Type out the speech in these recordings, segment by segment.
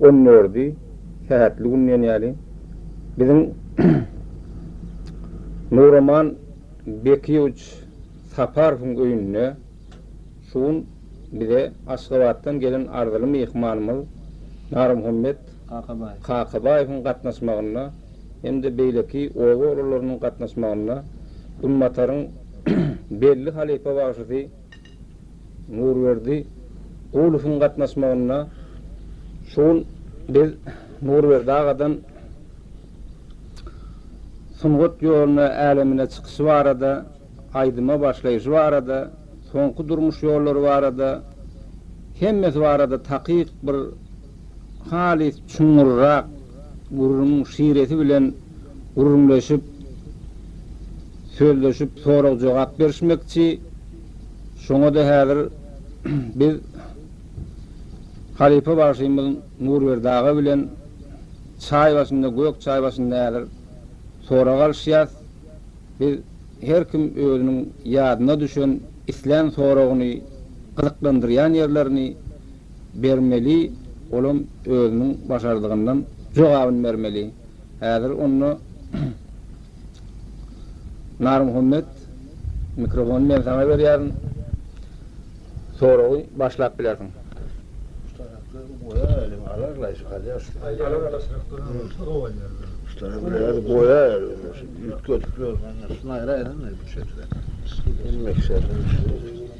on dördi sähetli gün diýen ýaly biziň Nuraman Bekiýewiç Saparowyň öýünde şu gün bize Aşgabatdan gelen arzyly myhmanymyz Narmuhammet Kakabaýewiň gatnaşmagynda hem-de beýleki oba oglularynyň gatnaşmagynda Günbataryň belli halypa bagşysy Nurberdi Gulowyň gatnaşmagynda şu gün biz Nurberdi agadan sungat ýoluna, älemine çykyşy barada, aýdyma başlaýşy barada, soňky durmuş ýollary barada, hemmesi barada takyk bir halys çuňňurrak gürrüň şiresi bilen gürrüňleşip, sözleşip, sorag-jogap berişmekçi. Şoňa-da häzir biz halypa bagşymyz Nurberdi aga bilen çaý başynda, gök çaý başynda häzir sorag alyşýas. Biz her kim özüniň ýadyna düşen, islän soragyny, gyzyklandyrýan ýerlerini, Bermeli, olam özüniň başardygyndan jogabyny bermeli. Häzir onda Narmuhammet, mikrofony men saňa berýärin. Soragy başlap bilersiň.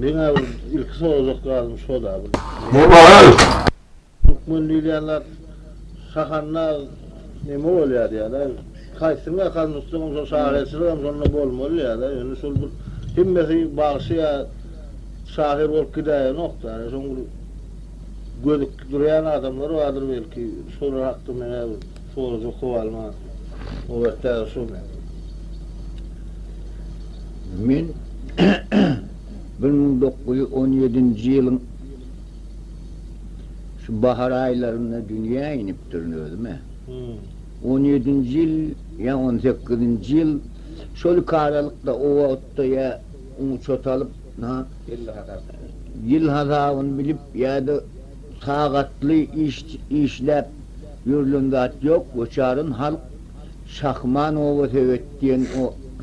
Men abi ilk soracak zadım şo da bu. Ne var? Türkmen diýýänler şahanna neme bolýar diýýärler. Kaýsy mekan tutsam şo şahyrçylyk hem şonda bolmaly diýýärler. Ýöne şol bir hemmesi bagşy ýa şahyr bolup gidäýenok-da. Ýöne şoň bir gözükip durýan adamlar bardyr belki şolar hakda men Suwuny jukup alma Nobet däl şu men. Men bir müň dokuz ýüz on ýedinji ýylyň şu bahar aýlarynda dünýä inipdirin özüm-ä. On ýedinji ýyl ýa on sekizinji ýyl şol iki aralykda o wagtda ýa uçot alyp, ýyl hasabyny bilip ýa-da Sagatly işläp ýörlen zat ýok, göçaryn halk Şahman obasebet diýen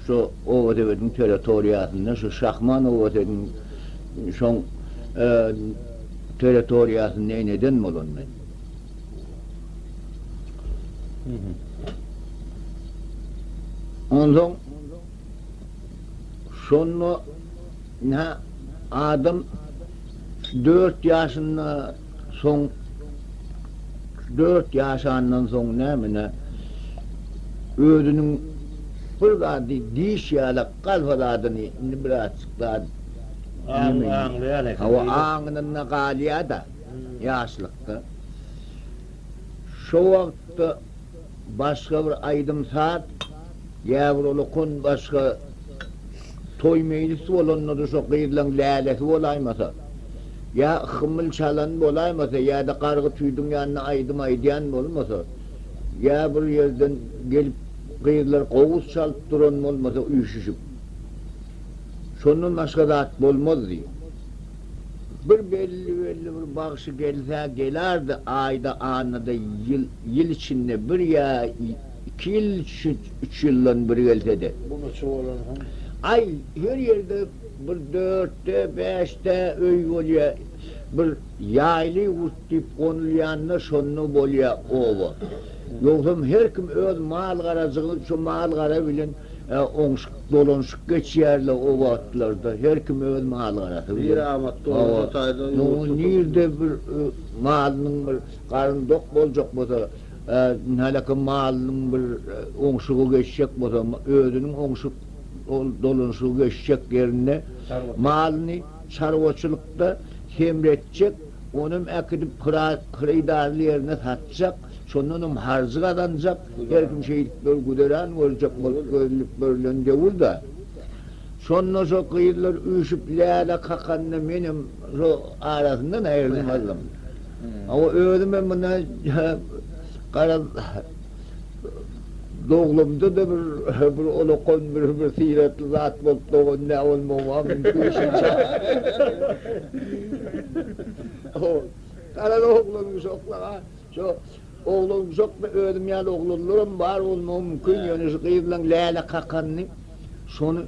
şo obasebediň territoriýasynda, şo Şahman obasediň şoň territoriýasynda eneden bolan men. Onsoň şonda nä adam. Dört ýaşynda soň dört ýaşandan soň nämine özüniň bir zady diş ýalak galfa zadyny indi birazjyk zat aňlaýan eken. Hawa aňynda galýada ýaşlykda. Şo wagtda. Başga bir aýdym-saz ýa bir ola kon başga toý meýlis bolanda-da şo gyzlaň lälesi bolaýmasa, ýa hymyl çalan bolaýmasa ýa-da gargy tüýdüň ýanynda aýdym aýdýan bolmasa, ýa bir ýerden gelip gyzlar gowus çalyp duran bolmasa üýşüşip. Şondan başga zat bolmazdy. Bir belli-belli bir bagşy gelse gelerdi, aýda, annada ýyl, ýyl içinde bir ýa iki ýyl, üç ýyldan bir gelse-de. Bu neçe bolan soň? Aý, her ýerde bir dörtde, bäşde öý bolýar. Bir ýaýly urt diýip gonulýanda şonda bolýar oba. Ýogsam her kim öz mal-garajygy, şo mal-gara bilen. Ä, oňşuk dolanşyk geçýär-le o wagtlarda, her kim öz mal-garasy bilen. Nire amat doly şo taýda ýurt tutup. Hawa, nirde bir malynyň bir garny dok boljak bolsa, ä, häleki malynyň bir oňşugy geçjek bolsa, özüniň oňşuk dolanşygy geçjek ýerinde malyny çarwaçylykda hemretjek, onam äkidip hyrydarly ýerine satjak, şondanam harjy gazanjak. Belkim şeýdip bir güzeran boljak bolup görünip görlen döwür-dä. Şonda şo gyzlar üýşüp läle kakanda menem şo arasyndan aýrylmazdyň. Hawa, özümem muna garaz doglumda-da bir bir olakan bir bir syratly zat bolup dogan dä bolmagym-a mümkin şunça. Garaz oglan uşaklar-a Şo oglan uzakmy özüm ýaly oglanlaram bar bolmagy mümkin ýöne şu gyzlaň läle kakanyny şony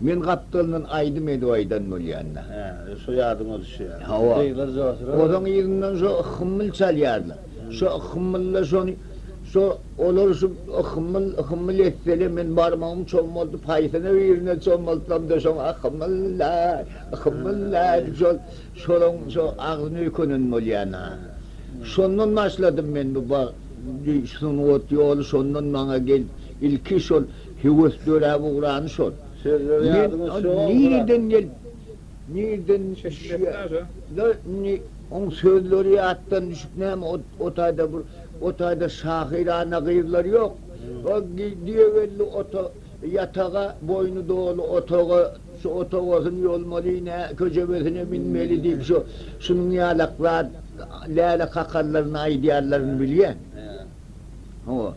men gapdalyndan aýdym edip aýdan bolýanda. Hä şo ýadyň ozi şu ýa. Hawa. Gyzlar joşurar. Ozaň yzyndan şo hymmyl çalýarlar. Şo hymmylda şony şo olar şu hymmyl hymmyl etsele men barmagym çommaldyp haýsyna birine çommaltsamda şoň ahymmyllaý hymmyllaý dip şol Şolaň şo agzyny öýkenen bolýan-a. Şondan başladym men bu ba gy sungat ýoly şondan maňa gelip ilki şol höwes döräp ugrany şol. Sözleri ýadyňa düşýä ol nireden gelip nireden düşýä da indi oň sözleri ýatdan düşüp näme ot o taýda bir o taýda şahyrana gyzlar ýok. Ba gy diýegeldi ota ýataga boýny doly otaga Şu otagasyn ýolmaly, nä köjebesine minmeli diýip şu şunuň ýalak zat läle kakallaryny aýdýarlaryny bilýän. Hawa.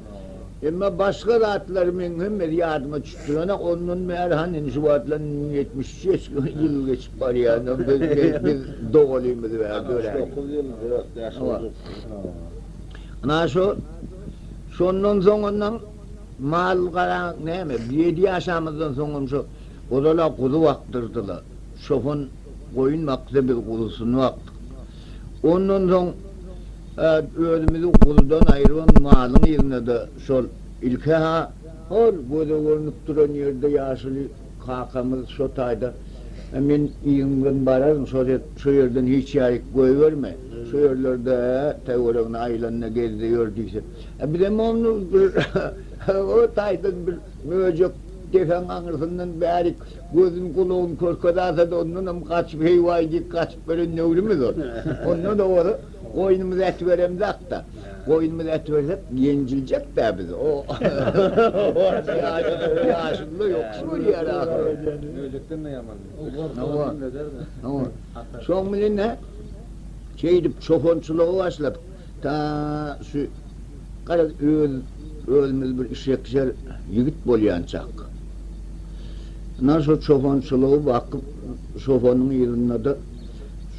Emma başga zatlary meň hemmesi ýadyma çykyp durana ondan bäri han indi şu wagtlar ýetmiş üç ýeş ýyl geçip barýar indi biz biz dogalymyz bäri döräýdik. Altmyş dokuz ýyl dört ýaş boljak. Ynha şu şondan soň ondan mal gara näme ýedi ýaşamyzdan soň hem şu Ozal-a guzy bakdyrdylar. Çopan goýun bakdy, biz guzusyny bakdyk. Ondan soň özümizi guzudan aýryban malyň yzyna-da şol ilki-ha, hol göze görnüp duran ýerde ýaşuly kakamyz şo taýda, Men yzyňdan bararyn, şo ýerden hiç ýaýyk goýberme, şo ýerlerde töweregine aýlanda gezde ýör diýse, bizem ony o taýdan bir. Möjek depäň aňyrsyndan bärik gözün gulagyny körkezärse-de ondanam gaçyp heý-waý diýip gaçyp gelen döwrümüz ol. Ondan owal goýnumyzy ätiberemzak-da. Goýnumyzy ätibersek ýenjiljek-dä biz. O ýaşyny-da ýokusy görýär ahyry. Möjekden-de ýaman. Hawa. Şoň bilen-ä şeýdip çopançylyga başladyk. Ta şu, garaz, öz, özümiz bir işjeksher ýigit bolýançak, ynha şu çopançylygy bakyp, çopanyň yzynda-da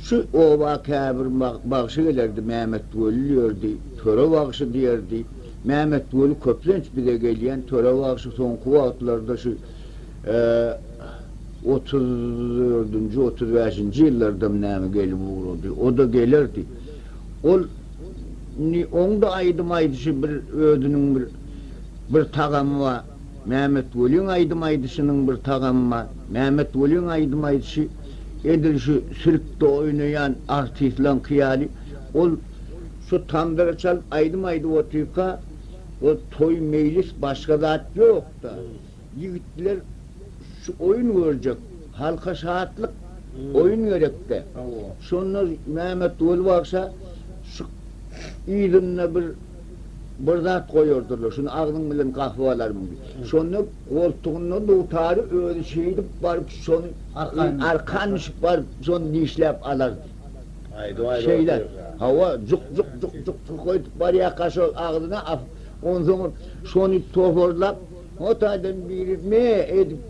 şu oba käbir bagşy gelerdi, Mämetweli ýördi, Töre bagşy diýerdi. Mämetweli köplenç bize gelýän, Töre bagşy soňky wagtlarda şu otuz dördünji, otuz bäşinji ýyllardam näme gelip ugrady. O-da gelerdi. Ol indi oňda aýdym aýdyşy bir özüniň bir bir tagamy bar. Mämetweliň aýdym aýdyşynyň bir tagamy bar. Mämetweliň aýdym aýdyşy edil şu sirkde oýnaýan artistleňki ýaly. Ol şu tambyry çalyp aýdym aýdyp otyrka, ol toý-meýlis başga zat ýok-da. Ýigitler şu oýun görjek. Halka şatlyk, oýun gerekde. Şonda Mämmetguly bagşa şu yzynda bir bir zat goýardyrlar. Şuny agzyň bilen gahyp alarmyň diýip. Şonda goltugynda dutary özi şeýdip baryp şony arkan düşüp baryp şony dişläp alardy. Şeýle, hawa, juk juk juk juk juk juk öýdüp barýarka şol agzyna asyp, onsoň şony toparlap, O taýdan biri me edip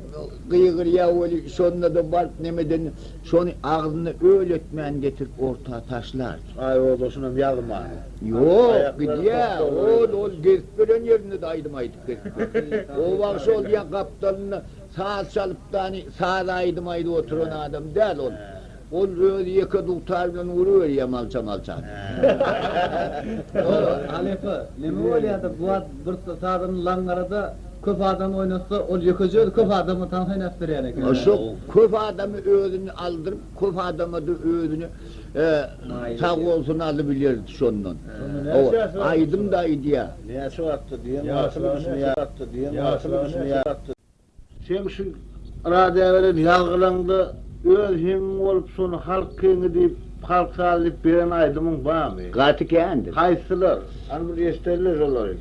gygyrýar weli, şonda-da baryp nemeden şony agzyna öl etmän getirip orta taşlardy. Aýozo şunam ýazman. Ýok, gidýär. Ol, ol gezip beren ýerinde-de aýdym aýdyp gezip ýör. O wagt şol diýen gapdalynda saz çalyp-dany, saz aýdym aýdyp oturan adam däl ol. Ol özi ýeke dugtar bilen uruberýär malça-malça. Dogry, halypa, neme bolýar-da, bu wagt bir sazany laňňarada köp adam oýnatsa, ol ýekeje özi köp adama tans oýnadyp berýän eken. Şo köp adamy özüni aldyryp, köp adama-da özüni sag bolsun alybilerdi şondan. Aýdym-da aýdýar. Näçe wagtdyr diýen wagtymy düşünýärmi? Seň şu radiýa beren ýazgylaňda öz himiň bolup şony halk kiňi diýip, halk sazy diýip beren aýdymyň barmy? Gaty kändir. Haýsylar? Hany bir eşderler şolary.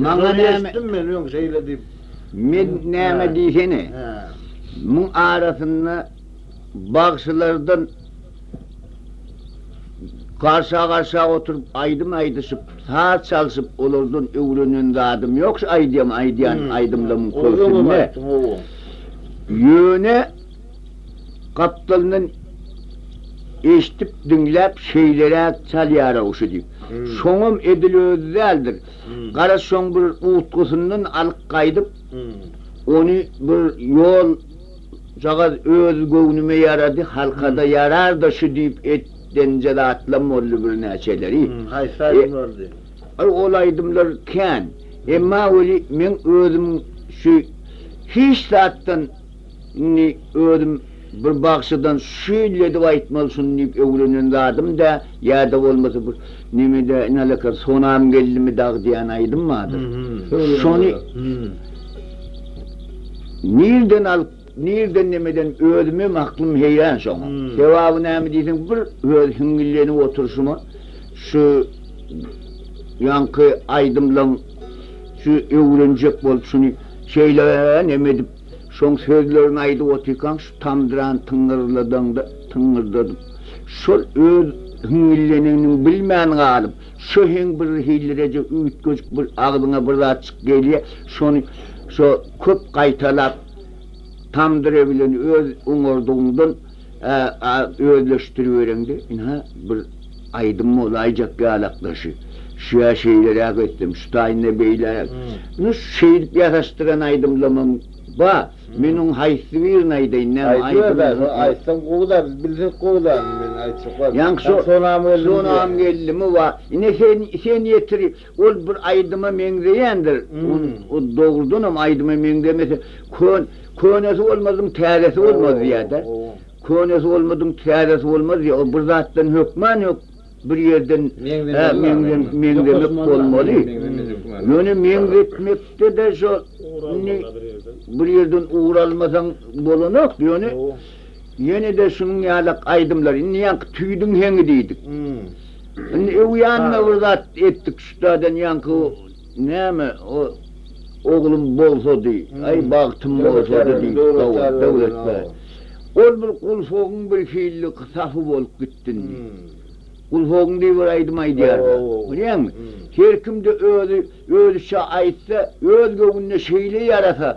Maňa näme? Eşitdim men öň şeýle diýip. Men näme diýsene. Hä. Muň arasynda bagşylardan. Garşa-garşa oturyp aýdym aýdyşyp, saz çalşyp olardan öwrenen zadym ýok şu aýdýan aýdýan aýdymlarymyň köpüsinde. Ýöne gapdalyndan eşdip diňläp şeýleräk çalýar-ow şu diýip. Şoňam edil özi däldir. Gara şoň bir utgasyndan alyp gaýdyp ony bir ýol Şujagaz öz göwnüme ýarady, halka-da ýarar-da şu diýip etdenje zatlam boldy birnäçeleri. Hum, haýsy aýdym boldy? Aý, ol aýdymlar kän. Emma weli meň özüm şu hiç zatdan indi özüm bir bagşydan şüýledip aýtmaly şuny diýip öwrenen zadym dä. Ýa-da bolmasa bir nemede nalekar sonam geldimi dag diýen aýdym bardyr. Şony nirden alyp, nirden nemeden özümem aklym heýran şoňa. Sebaby näme diýseň bir öz hiňňillenip oturyşyma şu ýaňky aýdymlaň şu öwrenjek bolup şuny şeýle neme edip şoň sözlerini aýdyp otyrkaň şu tamdyran tyňňyrladandy, tyňňyrdadyp. Şol öz hiňňildenenini bilmän galyp, şo heň birhilireje üýtgeşik bir agzyňa bir zatjyk gelýär, şony şo köp gaýtalap, tamdyr bilen öz oňardygyňdan özleşdiribereňde, ynha, bir aýdym bolaýjak ýalak daşy. Şüä şeýleräk etsem, şu taýynda beýläk. Ynha, şeýdip ýasaşdyran aýdymlamam bar. Men oň haýsy birini aýdaýyn näme aý Aýdyber daş ol aýtsaň gowy-da biz bilsek gowy-da men aýtjak bar. Ýaňky şo Sonam geldim diýýä. Sonam geldimi wa ine sen sen ýetir ol bir aýdyma meňzeýändir o dogrudanam aýdyma meňzemese kön könesi bolmadyň täzesi bolmaz diýýä-dä. Könesi bolmadyň täzesi bolmaz diýýä o bir zatdan hökman ýok. Bir ýerden meňzemek bolmaly. Ýöne meňzetmekde-de şo indi bir ýerden ugur almasaň bolanok. Ýöne ýene-de şunuň ýaly aýdymlar. Indi ýaňky tüýdüň heňi diýdik. Indi öwýänme bir zat etdik şutadan ýaňky näme o Oglum bolsady, aý bagtym bolsady diýdik. Hawa, Döwlet bäý. Ol bir gulfogyň birhili sapy bolup gitdi. dünni. Gulhogun diýip bir aýdym aýdýarlar. Bilýäňmi? Her kimde özi özüçe aýtsa, öz göwnüne şeýle ýarasa,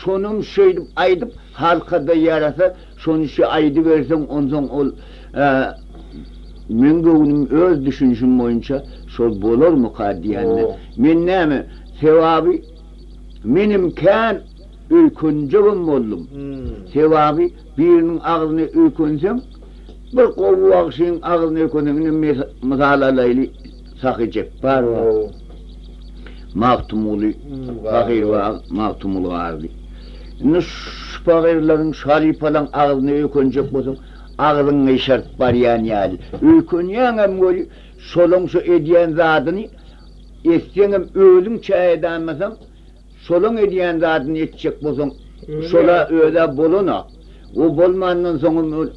şonam şeýdip aýdyp, halka-da ýarasa, şonyşy aýdyberseň, onsoň ol Meň göwnüm öz düşünişim boýunça şol bolarmyka diýende, men näme, sebabi menem kän öýkenjegem boldum. Sebabi Biriniň agzyny öýkenseň, bir gowy bagşyň agzyny öýkenseň, indi mes mysal alaýly, Sahy Jepbar bar, Magtymguly pahyr bar, Magtymguly Garry. Indi şu pahyrlaryň, şu halypalaryň agzyny öýkenjek bolsaň, agzyň gyşaryp barýan ýaly. Öýkenýäňem weli, şolaň şu edýän zadyny etseňem özüňçä edäýmeseň, Şolaň edýän zadyny etjek bolsaň, şol-a öz-ä bolan-a. O bolmandan soňam ol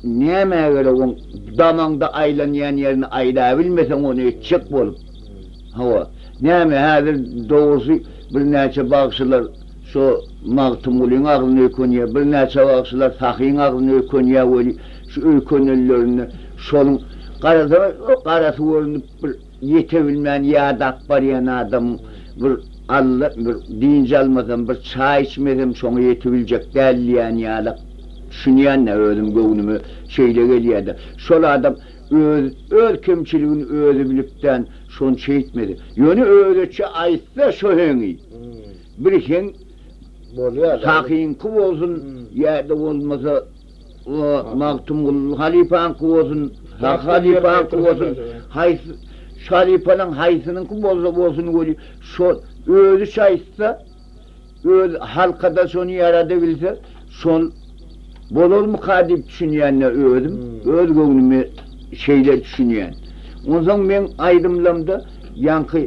nämä gerek oň damaňda aýlanýan ýerini aýlabilmeseň ony etjek bolup. Hawa, näme häzir dogrusy birnäçe bagşylar şo Magtymgulyň agzyny öýkünýär, birnäçe bagşylar Sahyň agzyny öýkünýär weli, şu öýkünenlerinde şoluň garasaňa garasy görnüp bir. Ýete bilmän ýadap barýan adam bir alla bir dynç almasam bir çaý içmesem şoňa ýete biljek däl diýýän ýalak düşünýända özüm göwnüme şeýle gelýäda şol adam öz öz kemçiligini özi bilipdän şony şeýtmedi ýöne özeçe aýtsa şo heňi bir heň bolýada hakyňky bolsun ýada bolmasa O, Magtymguly halypaňky bolsun, Hak halypaňky bolsun, haýsy, şu halypalaň haýsynyňky bolsa bolsun weli, şo, özi şaýytsa, özi halka-da şony ýaradabilse, şol bolarmyka diýip düşünýän-de özüm, öz göwnüme şeýle düşünýän. Onsoň meň aýdymlamda ýaňky,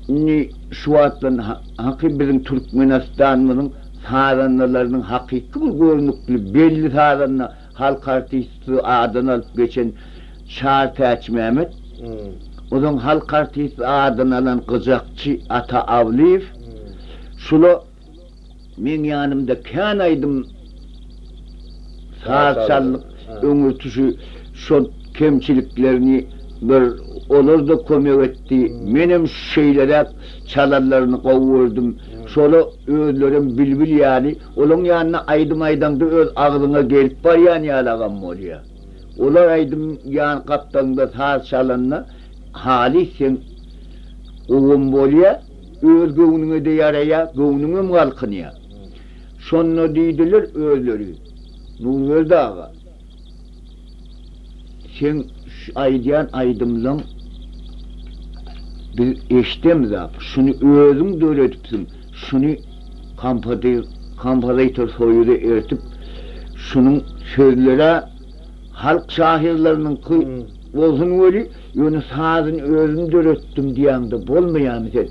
indi şu wagtdan, ha, haky biziň Türkmenistanymyzyň Sazandalarynyň hakyky bir görnükli belli sazanda, halk artisti adyny alyp geçen Çar Täçmämmet, ozaň halk artisti adyny alan gyjakçy Ata Awlyýew, şula meň ýanymda kän aýdym saz çaldyk. öňürtisi şol kemçiliklerini bir olarda kömek etdi. Menem şeýleräk çalanlaryny gowy gördüm. Şola özlerem bilbil ýaly, olaň ýanyna aýdym aýdaňda öz agzyňa gelip barýan ýalagam bolýa. Olar aýdym ýan gapdalyňda saz çalanda halys seň gowam bolýa, öz göwnüňede ýaraýa, göwnüňem galkynýa. Şonda diýdiler özleri. Nurberdi aga, seň şu aýdýan aýdymlaň biz eşidemizap, şuny özüň döredipsiň, şuny kompozitor soýuza ertip, şunuň sözlerä halk şahyrlarynyňky bolsun weli, Ýöne sazyny özüm döretdim diýäňde bolmaýamy sen?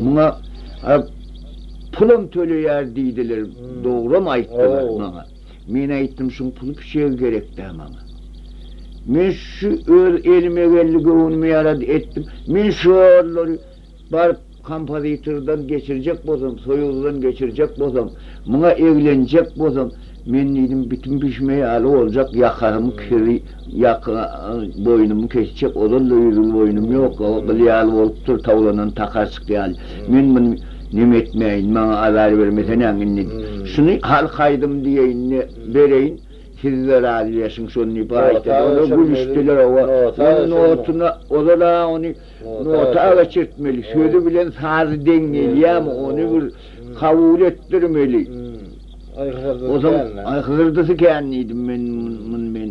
Muňa pulam töleýär diýdiler, dogram aýtdylar maňa. Men aýtdym şuň puly piçegi gerek dä maňa. Men şu öz elime geldi göwnüme ýarady etdim. Men şolary Baryp, kompozitordan geçirjek bolsam, soýuzdan geçirjek bolsam, muňa eglenjek bolsam, men diýdim, bitim bişme ýaly boljak, ýakamy kiri, ýaka, boýnumy kesjek, ozal-da ýüz ýyl boýnum ýok, o gyl ýaly bolupdyr, towlanan takarçyk ýaly. Men muny neme etmäýin, maňa azar bermeseň-ä indi. Şuny halk aýdym diýeýin-de bereýin, siz-de razylaşyň şony diýip aýtdy. Olar gülüşdiler, oba, onuň notuna, ozal-a ony, Nota aga çekmeli, sözi bilen sazy deň gelýämi, ony bir kabul etdirmeli. Ozal aý hyzyrdysy kän diýdim men muny men.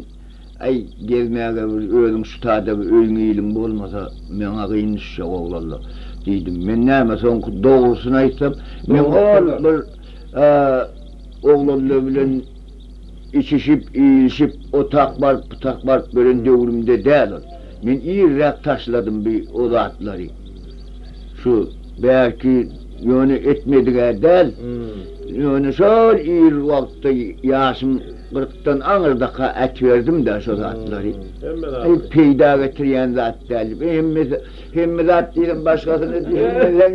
Aý gezmäge bir özüň şu taýda bir öýüň-iliň bolmasa maňa gyn düşjek oglanlar diýdim. Men näme soňky dogrusyny aýtsam, men ol bir oglanlar bilen Içişip, iýilişip, otak baryp, butak baryp ýören döwrümde däl ol. Men irräk taşladym bi o zatlary. Şu bärki ýöne etmedik-ä däl. Ýöne şol ir wagtda ýaşym gyrkdan aňyrdaky ätiberdim-dä şo zatlary. Hemme zady. Peýda getirýän zat däl. Hemmesi Hemmedat diýdim başgasyny düşünmeseň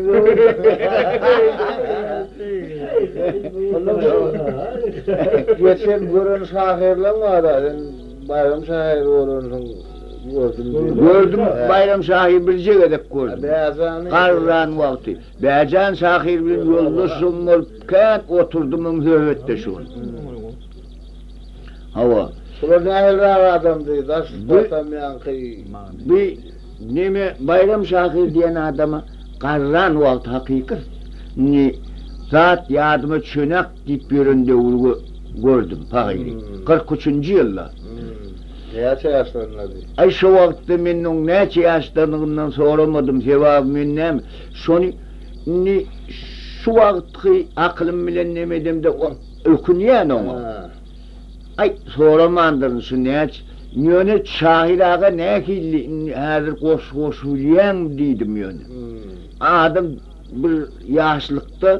Geçen gören şahyrlaň bar-a sen Baýram şahyr bolansyň gördüm diýip. Gördüm Baýram şahyr birje gezek gördüm. Bäjany. Garran wagty. Bäjan şahyr bilen ýoldaşym bolup kän oturdymyň söhbetdeş bolup. Hawa. Bular nähiliräk adamdy daş batamýanky. Bi Neme Baýram şahyr diýen adama garran wagty hakyky ni zat ýadyma çönak diýip ýören döwri gö gördüm pahyry. Kyrk üçünji ýylda. Näçe ýaşlaryndady? Aý şo wagtda men oň näçe ýaşdadygyndan soramadym sebabi men näme şony indi şu wagtky akylym bilen neme edemde ökünýän oňa. Aý, soramandyryn şu näç. Ýöne Şahyr aga nähilli indi häzir goşgy goşup bilýäň diýdim ýöne. Adam bir ýaşlykda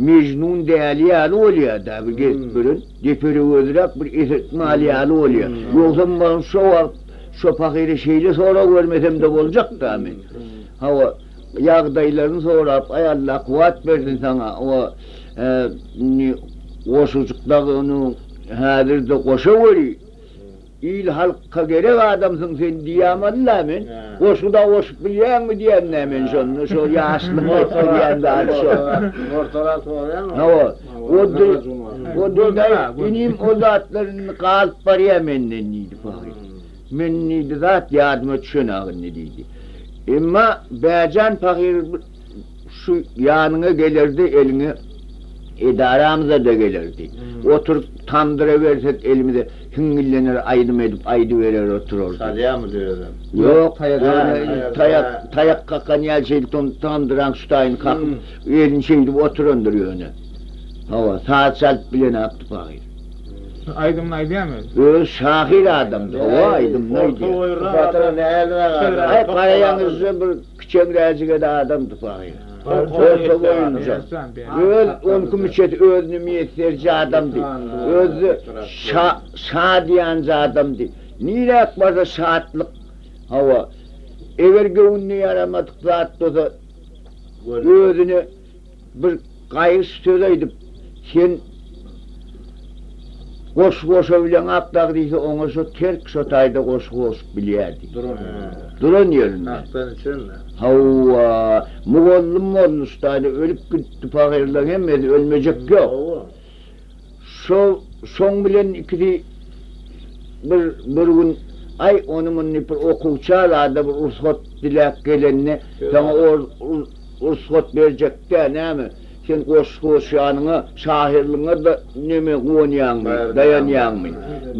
Mejnun däli ýaly bolýar-da bir gezip gören. Deperegözräk bir esetmal ýaly bolýar. Ýogsam maňa şo wagt şo pahyra şeýle sorag bermesem-de boljak-da men. Hawa. Ýagdaýlaryny sorap, Aý Allah kuwwat bersin saňa we indi goşajyk dagy ony häzirde goşa weli, il halka gerek adamsyň sen diýýäm Allah men. Goşgy dagy goşup bilýäňmi diýende men şonda şo ýaşlygyň etdirýän zady şo. Ortarak bolýan. Hawa. Oddy, Oddy dagy inim o zatlar indi galyp barýar menden diýdi pahyr. Men nji zat ýadyma düşen-ag indi, diýdi. Emma Bähjan pahyr şu ýanyňa gelerde eliňe edaramyza-da gelerdi. Oturyp tamdyra bersek elimize hiňňillener aýdym edip aýdyberer oturardy. Sazýamydy özem? Ýok, taýak taýak kakan ýaly şeýdip tamdyraň ştaýyny kakyp elini şeýdip oturandyr ýöne. Hawa, saz çalyp bilen-akdy pahyr. Aýdymyny aýdýamy özi? Özi şahyr adamdy hawa aýdymyny aýdýa. Batyra näldira gaýdar. Aý garaýan üzre bir kiçeňräjigede adamdy pahyr. Orta boýunja. Öz on iki müçesi özüne miýesserji adamdy. Özi şa şadyýanjy adamdy. Niräk barsa şatlyk hawa. Eger göwnüne ýaramadyk zat bolsa özüne. Bir gaýyş söz aýdyp, sen goşgy goşa bileňak dagdysy, oňa şo terk şo taýda goşgy goşup bilýär diýdi. Duran ýerinden. Duran ýerinden. Hakdan içendir. Hawa, mugallym bolmuşdaýda ölüp gidipdi, pagyrlaň hemmesi ölmejek ýok. Hawa. Şol şoň bilen ikisi bir bir gün Aý, ony muny bir okuwça zada bir rugsat diläp gelende, saňa ol rugsat berjek-dä näme? Sen goşgy goşýanyňa, şahyrlygyňa-da näme guwanýaňmy, daýanýaňmy,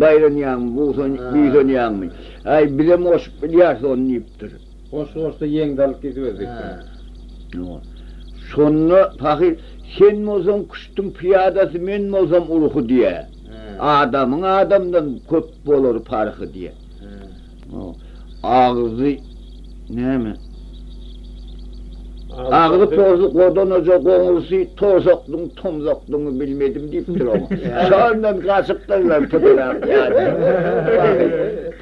baýranýaňmy, buýsanýaňmy? Aý, bizem goşup bilýäris ony diýipdir. Goşgy goşsa ýeňde alyp gidiberjek däl. Şonda pahyr, Sen bolsaň küştüň pyýadasy, men bolsam urhy diýä. Adamyň adamdan köp bolar parhy diýä. Agzy näme? Agzy porsy godanaja goňursy, torsakdyň tomzakdygyňy bilmedim diýipdir oňa. Şondan gaçypdyrlar pydyrak ýaly.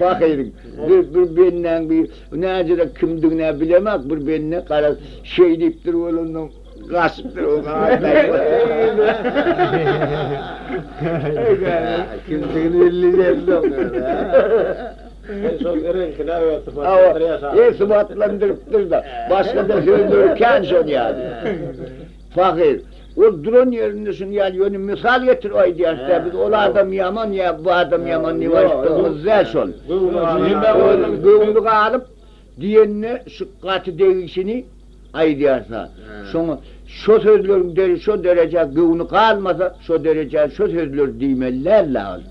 Pahyryň. Biz bir bendäň bir näzirek kimdigin-ä bilemek, bir bende garaz, şeý diýipdir bolansoň, gaçypdyr o Kimdigini belli edipdir. Şol reňkini öwezsypatlandyryp ýaşaýar. Öwezsypatlandyrypdyr-da, başga-da sözleri kän şol ýaly. Pahyr, ol duran ýerinde şuny ýaly, ýöne mysal getirip aýdýaşda, biz ol adam ýaman ýa bu adam ýaman diýip aýtdygymyz däl şol. Göwni galyp diýende şu gaty degişini aýdýarsa, şoňa şo sözleriň şo derejä göwni galmasa, şo derejä şo sözleri diýmeli däldi agyz.